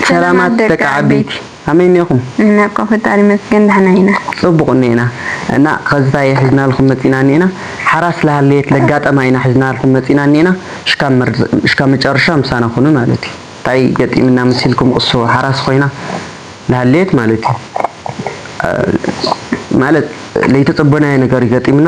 ሰላማት ደቂ ዓበይቲ ከመይ እኔኹም። እንነቀ ፈጣሪ ይመስገን ዳሕና ኢና። ጽቡቅ እኔና እና ኸዝታይ ሒዝናልኹም መጺና እኔና ሓራስ ለሃለየት ለጋጠማ ኢና ሒዝናልኹም መጺና እኔና ሽካብ መጨረሻ ምሳና ኹኑ ማለት እዩ ታይ ገጢምና መሲልኩም ቕሱ ሓራስ ኾይና ለሃለየት ማለት እዩ ማለት ለይተጸበናዮ ነገር እዩ ገጢምና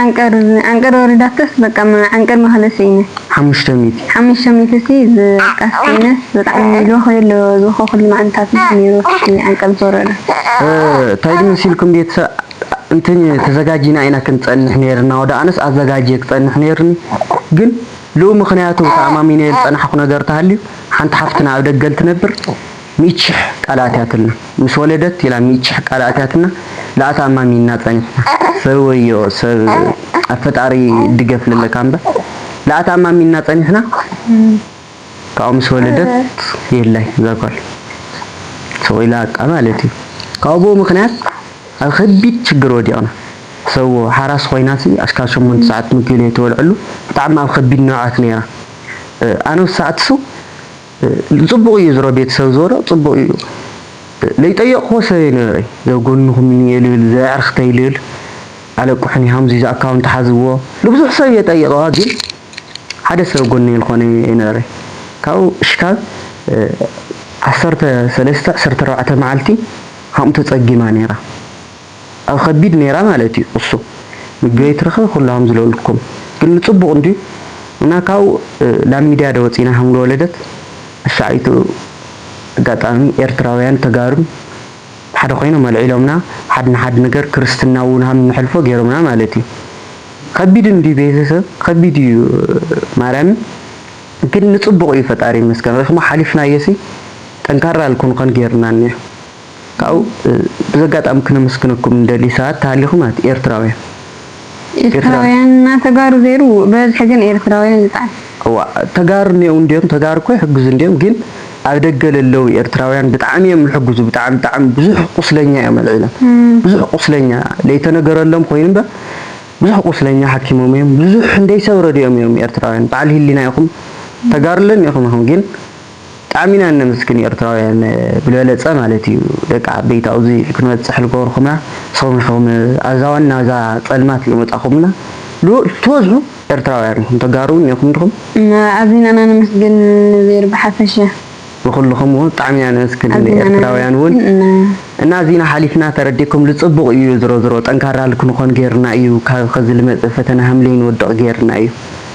ዓንቀር ዓንቀር ወሪዳተስ በቃ ዓንቀር መክለ ስኢነ ሓሙሽተ ሚእቲ ሓሙሽተ ሚእቲ ሲ በቃ ስኢነስ ብጣዕሚ ሚልዮ ከይ ኣሎ ዝኮ ኩሉ መዓልታት ምስ ኔሩ ሲ ዓንቀር ዝወረደ ታይ ድ መሲልኩም ቤተሰብ እንትን ተዘጋጂና ኢና ክንፀንሕ ኔርና ወደ ኣነስ ኣዘጋጅየ ክፀንሕ ኔርኒ ግን ልኡ ምክንያቱ ተኣማሚነዮ ዝፀናሕኩ ነገር ተሃልዩ ሓንቲ ሓፍትና ኣብ ደገ እንትነብር ሚእቲ ሽሕ ቃል ኣትያትልና ምስ ወለደት ኢላ ሚእቲ ሽሕ ቃል ኣትያትና ላኣታ ኣማሚንና ጸኒሕና ሰብ ወዮ ሰብ ኣብ ፈጣሪ ድገፍ ለለካ እምበር ላኣታ ኣማሚንና ጸኒሕና ካብኡ ምስ ወለደት የላይ እዛ ጓል ስቅ ኢላ ኣቃ ማለት እዩ ካብኡ ምክንያት ኣብ ከቢድ ችግር ወዲቅና ሰዎ ሓራስ ኮይናሲ ኣሽካል ሸሞንተ ሰዓት ምግቢ ለይትበልዐሉ ብጣዕሚ ኣብ ከቢድ ንብዓት ነይራ ኣነ ወሳዕትሱ ጽቡቅ ኢዩ ዝሮ ቤት ሰብ ዝሮ ጽቡቅ ኢዩ ለይጠየቅክዎ ሰብ የነበረይ ዘብ ጎንኩም እኒኤ ልብል ዘየዕርክተይ ልል ኣለቁሑኒ ሃምዙይ ዝኣካውንት ሓዝዎ ልብዙሕ ሰብ ኢየ ጠይቀዋ ግን ሓደ ሰብ ጎነይ ልኮነ የነበረይ ካብኡ ሽካብ ዓሰርተ ሰለስተ ዕስርተ ኣርባዕተ መዓልቲ ሃምኡ ተጸጊማ ነራ ኣብ ኸቢድ ኔራ ማለት እዩ እሱ ምግበይ ትረኽቢ ኩላሆም ዝለሉኩም ግን ንፅቡቅ እንድዩ እና ካብኡ ላብ ሚድያ ዶ ወፂና ሃምሉ ወለደት እሳዕ ኢቱ ኣጋጣሚ ኤርትራውያን ተጋሩን ሓደ ኮይኖም ኣልዒሎምና ሓድ ንሓድ ነገር ክርስትና እውን ሃም ንሐልፎ ገይሮምና ማለት እዩ ኸቢድ እንድዩ ቤተሰብ ኸቢድ እዩ ማርያምን ግን ንፅቡቅ እዩ ፈጣሪ ይመስገን ሪክሞ ሓሊፍናዮሲ ጠንካራ ልኩንኸን ገይሩና እኒኦ። ካብኡ ብዘጋጣሚ ክነመስግነኩም ንደሊ ሰባት ተሃሊኹም ማለት ኤርትራውያን። ኤርትራውያን እና ተጋሩ ዘይሩ በዝሒ ግን ኤርትራውያን ይጣዕስ። እዋእ ተጋሩ እኔዉ እንድዮም ተጋሩ እኮ ይሕግዙ እንድዮም ግን ኣብ ደገ ለለዉ ኤርትራውያን ብጣዕሚ እዮም ልሕግዙ ብጣዕሚ ብጣዕሚ ብዙሕ ቁስለኛ እዮም ኣልዒሎም ብዙሕ ቁስለኛ ለይተነገረሎም ኮይኑ እምበር ብዙሕ ቁስለኛ ሓኪሞም እዮም ብዙሕ እንደይ ሰብ ረዲኦም እዮም ኤርትራውያን በዓል ሂሊና ኢኹም ተጋሩ ለኔኹም ኢኹም ግን ብጣዕሚ ኢና እነምስግን ኤርትራውያን ብልበለጸ ማለት እዩ ደቂ ዓበይቲ ኣብዙ ክንበጽሕ ልገበርኩምና ንስኹም ኢኹም ኣዛዋኒ ናብዛ ጸልማት ለመጻኹምና ልኡል ትበዝሑ ኤርትራውያን ኢኹም ተጋሩ ውን ኢኹም ድኹም ኣዚና እና ነመስግን ንዜር ብሓፈሻ። ንኹልኹም ውን ብጣዕሚ ኢና ነመስግን ንኤርትራውያን ውን እና ኣዚና ሓሊፍና ተረዲእኩም ልጽቡቕ እዩ ዝሮዝሮ ጠንካራ ልክንኾን ጌርና እዩ ካብ ኸዚ ልመጽእ ፈተና ሃምለይ ንወድቕ ጌርና እዩ